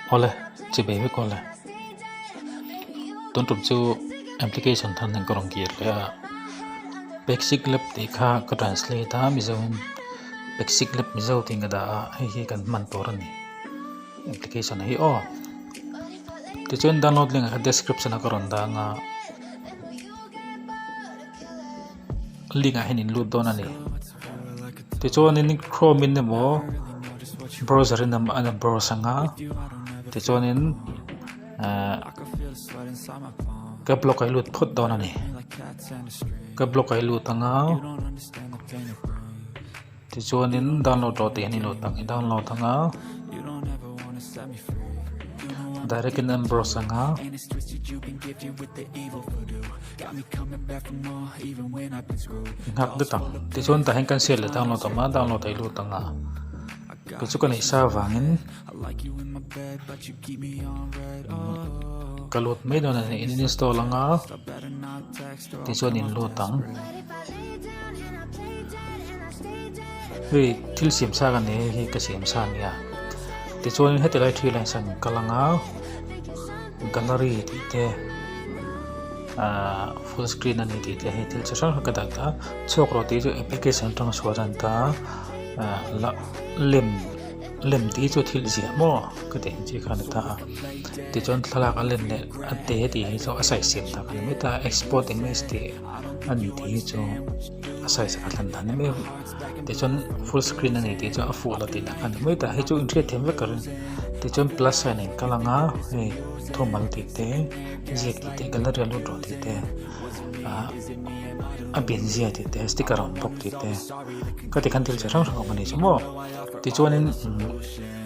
Awle chi be vek awle tuntum chu application than in ka rawn kir leh a basic lab tih kha ka translate a mizomim basic lab mizo tiin ka dah a hei hi kan hman tur a ni application hi aw tichuan download link ah kha description ah ka rawn dang a. link ah hian in lut dawn a ni tichuan in chrome in emaw browser in a la browse ang a tichuan in ahh caps lock ah i lut phawt dawn a ni caps lock ah i lut ang a. Tichuanin download lo tih hi ni lo tak i download ang a, direct in an browse ang a. Nghak dut ang, tichuan tah hian kan share leh download awm a, download ei lut ang a. Kei chu ka neih sa vangin ka lut mai dawn a, in install ang a. Tichuan in lut ang. Hei thil siam sa ka ni hi ka siam sa nia. Tichuan heti lai thil ang san ka langa gallery tih te ahh full screen a ni tih te hei thil chi hrang hrang ka dai ta. Chhuak erawh tih chu application atanga chhuah a dan ta a lem lem tih chu thil ziah maw ka tih ang chi kha ani ta a. Tichuan thlalak a let leh a te tih hi chu a sawi siam ta ka ni maith a export english tih a ni tih hi chu a sawi saka hlan dan em em tichuan full screen a ni tih chuan a fuh la tih dan ka ni maith a hei chu in hriat thiam vek ka ring tichuan plus sign in ka lang a hei thuammal tih te ziak tih te gallery a lut duah tih te ah a binzia tih te sticker a awm bawk tih te ka ti khan thil chi hrang hrang a awm a nih chu maw tichuanin umm--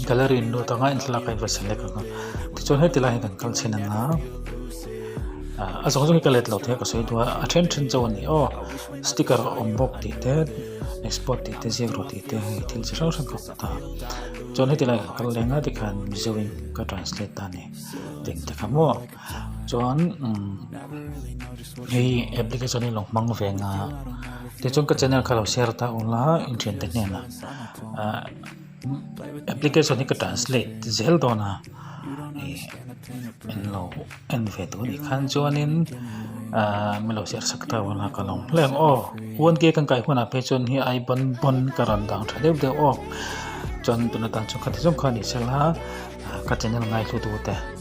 gallery in lut anga in thlalak a inva select ang a tichuan heti lai hi kan kal chhin ang a ah a zawng zawng hi ka let lo thei a ka sawi dua a then then chauh a ni aww sticker a awm bawk tih te export tih te ziak rawh tih te hei thil chi hrang hrang ka hmuh ta chuan heti lai ah ka kal daih ang a tikhan mizo in ka translate ta a ni tih ka hmu. chuan hei application hi lo hmang ve nga ti chuan ka channel kha lo share ta u la in thiante hnen ah ah application hi ka translate zel dawn a ih in lo en ve duh anih khan chuan in ah min lo share sak ta ula ka lo hmel em aw one k kan kai hunah phei chuan hei ai bawn bawn ka rawn dang tha deuh deuh aw chuan tuna tah chuan kha ti zawng kha a nih sela ka channel ngaihtutu te.